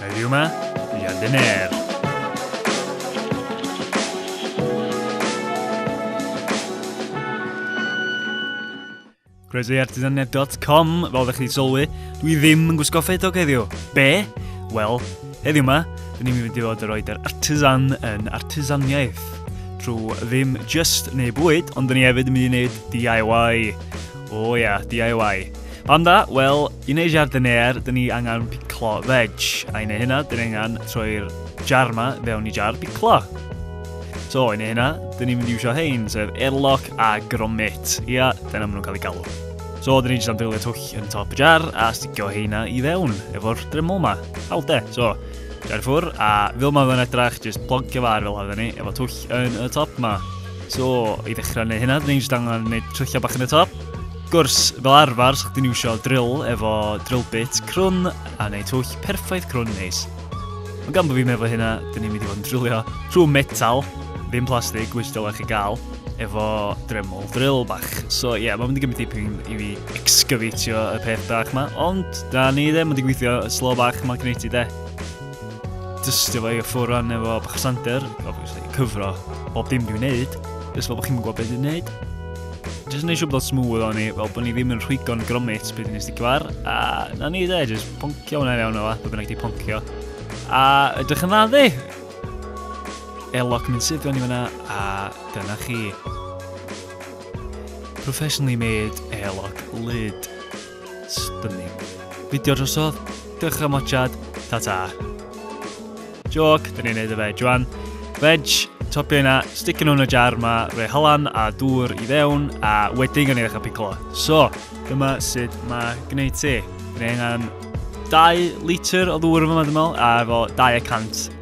Heddiw yma, mi a dyner. Croesoiartisanedd.com, fel ydych chi sylwi, dwi ddim yn gwisgo ffedog heddiw. Be? Wel, heddiw yma, dyn ni'n mynd i fod yr oed yr artisan yn artisaniaeth. Trwy ddim just neu bwyd, ond dyn ni hefyd yn mynd i wneud DIY. O oh, ia, yeah, DIY. Pam da? Wel, I wneud jardineer, dyn ni angen piclo veg, a i wneud hynna, dyn ni angen troi'r jar ma fewn i jar piclo. So, i wneud hynna, dyn ni'n mynd i iwsio hein, sef airlock a gromit. Ia, dyna maen nhw'n cael eu galw. So, dyn ni'n jyst am drylio twll yn top y jar a stigio heina i fewn efo'r dremol ma. Hawl de, so, jar ffwr, a fel mae fe'n edrach, jyst ploncio far fel hafyd ni, efo twll yn y top ma. So, i ddechrau neu hynna, dyn ni'n jyst angen gwneud trylliau bach yn y top. gwrs, fel arfer, sa chdi'n iwsio drill efo drill bit crwn a neu twll perffaith crwn yn neis. Ond gan bod fi'n meddwl hynna, dyn ni'n mynd i fod yn drillio trwy metal, ddim plastig, which dylech chi gael, efo dremol drill bach. So ie, yeah, mae'n mynd i gymryd dipyn i fi excavatio y peth bach ma, ond da ni ddim yn digweithio y slo bach ma gwneud ti de. Dystio fo i y ffwr rhan efo bach o sander, obviously, cyfro bob dim dwi'n neud, jyst fel bod chi'n gwybod beth dwi'n neud. Jyst yn eisiau bod o'n smooth o'n i, fel bod ni ddim yn rhwygo'n gromit beth ni'n sticio ar. A na ni dde, jyst poncio hwnna'n iawn o fath, bod bynnag di poncio. A ydych yn dda ddi? Elog mynd sydd o'n i fyna, a dyna chi. Professionally made elog lyd. Stunning. Fideo drosodd. Diolch am watchad. Ta ta. Joc, dyn ni'n neud y veg rwan. Veg, topio yna, sticio nhw'n y jar yma, rhoi halan a dŵr i fewn, a wedyn gan i ddechrau piclo. So, dyma sut mae gwneud ti. Rwy'n angen 2 litr o ddŵr yma, dwi'n meddwl, a efo 200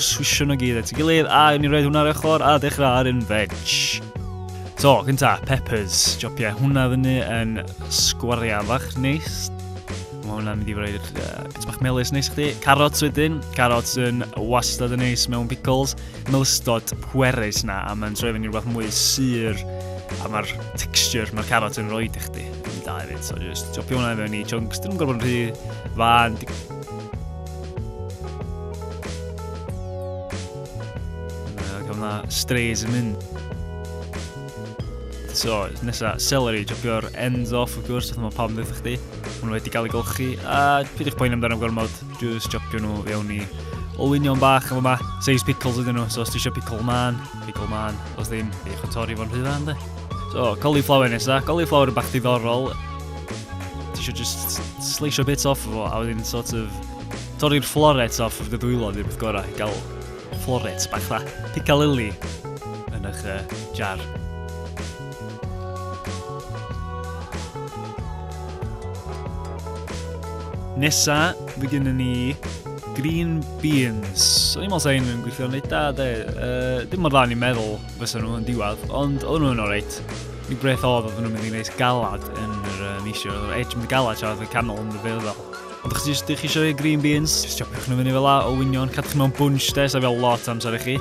Swisio nhw gyd at ei gilydd a ni roed hwnna ar ochr a dechrau ar un veg. So, cynta, peppers. Jopia hwnna fyny yn sgwariau fach neis. Mae hwnna'n mynd i fod i'r bit bach melus neis chdi. Carrots wedyn. Carrots yn wastad yn neis mewn pickles. Melystod pwerus na, a mae'n troi fyny rhywbeth mwy syr. A mae'r texture, mae'r carrot yn rhoi i chdi. Yn da hefyd, so just jopio hwnna i mewn i chunks. Dyn nhw'n gorfod yn rhy fan, Na, strays yn mynd. So, nesa, celery, jopio'r ends off, of course, oedd mae pam ddweud chdi. Hwnnw wedi cael ei golchi, a pyd eich poen amdano gormod, just jopio nhw fewn i olwynion bach efo ma, seis pickles ydyn nhw, so os ti eisiau pickle man, pickle man, os ddim, eich o torri fo'n rhywbeth, ynddo. So, cauliflower nesa, cauliflower yn bach diddorol, Ti eisiau just sleisio bits off o fo, a wedyn sort of torri'r floret off of the dwylo, ddim beth gorau, gael floret bach dda, picalili yn eich uh, jar. Nesa, fe gynnu ni green beans. So i'n meddwl sa'n yn gweithio'n neud da, de. Uh, dim mor dda ni'n meddwl. fysa nhw yn diwadd, ond oedden nhw'n alright. Mi breth oedd oedden nhw'n mynd i wneud galad yn yr uh, misio, oedden nhw'n edge mynd galad tra oedd y canol yn y fel. Ond chi eisiau chi eisiau green beans, jyst chopiwch nhw fyny fel la o wynion, cadw chi mewn bunch de, so fel lot amser i chi.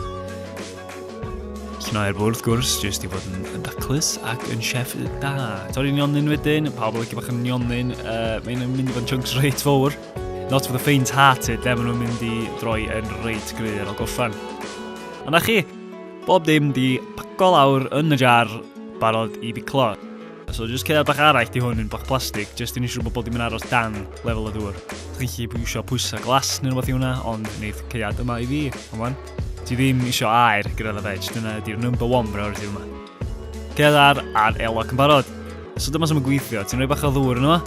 Cnau'r bwrdd, wrth gwrs, jyst i fod yn, yn daclus ac yn chef da. Torri'n nionyn wedyn, pawb yn lygu bach yn nionyn, uh, mae'n mynd i fod yn chunks reit fawr. Not for the faint-hearted, de, maen nhw'n mynd i droi yn reit gryf ar ôl gorffan. A na chi, Bob dim 'di paco lawr yn y jar, barod i biclo. So jyst ceir bach arall di hwn yn bach plastig, jyst i ni siŵr bod bob dim yn aros dan lefel y ddŵr. Chi'n chi pwy eisiau pwysau glas neu rhywbeth i hwnna, ond wneud ceiad yma i fi, come on. Ti ddim eisiau air gyda dda veg, dyna ydy'r number one priority yma. Cedar a'r elog yn barod. So dyma sy'n mynd gweithio, ti'n rhoi bach o ddŵr yno,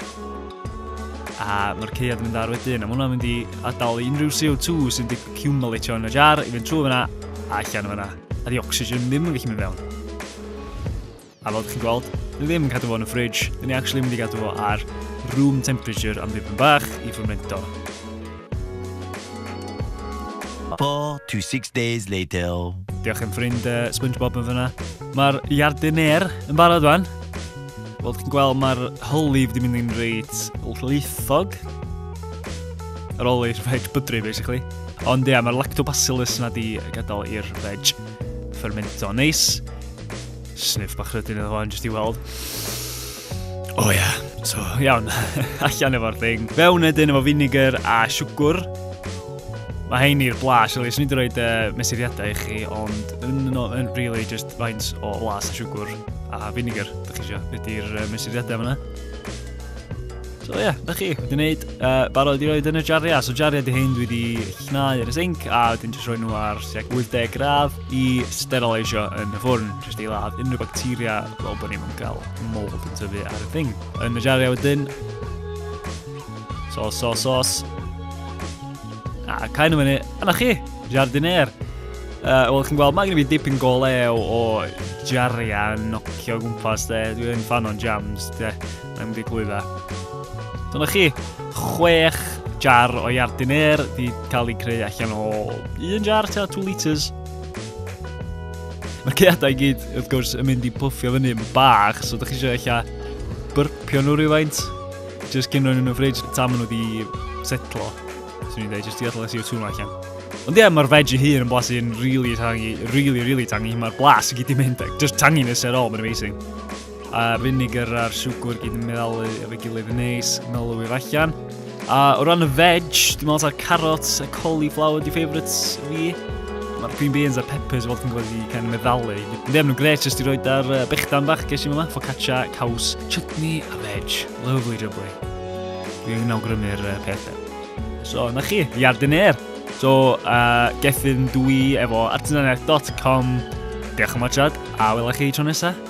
a mae'r ceiad yn mynd ar wedyn, a mae hwnna'n mynd i adael unrhyw CO2 sy'n wedi accumulatio yn y jar i fynd trwy fyna a allan fyna, a di oxygen ddim yn gallu mynd fewn. A fel chi'n gweld, ni ddim yn cadw fo yn y fridge, ni actually mynd i gadw fo ar room temperature am ddim yn bach i ffwrmento. Four to six days later. Diolch yn ffrind uh, Spongebob yn fyna. Mae'r jardiner yn barod fan. Wel, chi'n gweld mae'r holi wedi mynd i'n reit lleithog. Yr holi, reit bydru, basically. Ond ia, mae'r lactobacillus yna di gadael i'r veg fermento. Neis. Sniff bach rydyn iddo fo, jyst i weld. O oh, ia. Yeah. So, iawn, allan efo'r thing. Fewn edyn efo vinegar a siwgwr. Mae hein i'r blas, really. Swn i'n dweud uh, mesuriadau i chi, ond yn, no, yn really just faint o blas a siwgwr a vinegar, da chi eisiau. Ydy'r uh, mesuriadau fyna. So ie, yeah, da chi wedi gwneud uh, barod i roed yn y jariau. So jariau di hyn dwi wedi Cnau ar y sinc a wedyn jyst rhoi nhw ar tuag 80 gradd i sterileisio yn y ffwrn, jyst i ladd unrhyw bacteria fel bod ni'n cael mold yn tyfu ar y thing. Yn y jariau wedyn, sos, sos, sos. A cael nhw fyny, yna chi, jardiner. Uh, Wel, chi'n gweld, mae gen i fi dipyn go lew o jariau yn nocio gwmpas, de. Dwi'n fan o'n jams, de. Mae'n mynd i glwydda. Dyna chi, chwech jar o iardyn air di cael ei creu allan o un jar ta 2 litres. Mae ceadau i gyd, wrth gwrs, yn mynd i puffio fyny yn bach, so ydych chi eisiau eich a byrpio nhw rhywfaint, jyst cyn rhoi nhw'n y ffridge, tam nhw wedi setlo. Swn i'n dweud, jyst i allan y CO2 yma allan. Ond ie, mae'r veg i hun yn blasu'n really tangi, really, really tangi. Mae'r blas i gyd i mynd, just tanginess at all, mae'n amazing. A vinegar a'r siwgr gyd yn meddalu efo'i gilydd yn neis, melwyr allan. A o ran y veg, dwi'n meddwl ta'r carrot, y cauliflower di favourites fi. Mae'r green beans a'r peppers weld yn gweld i cael ei meddalu. Dwi'n ddim nhw'n gret, jyst i roed ar uh, bechdan bach ges i yma, focaccia, caws, chutney a veg. Lovely jubbly. Dwi'n awgrymu'r uh, pethau. So, na chi, Jardinier. So, uh, gethyn dwi efo artisanedd.com. Diolch am watchad, a welai chi tro nesaf.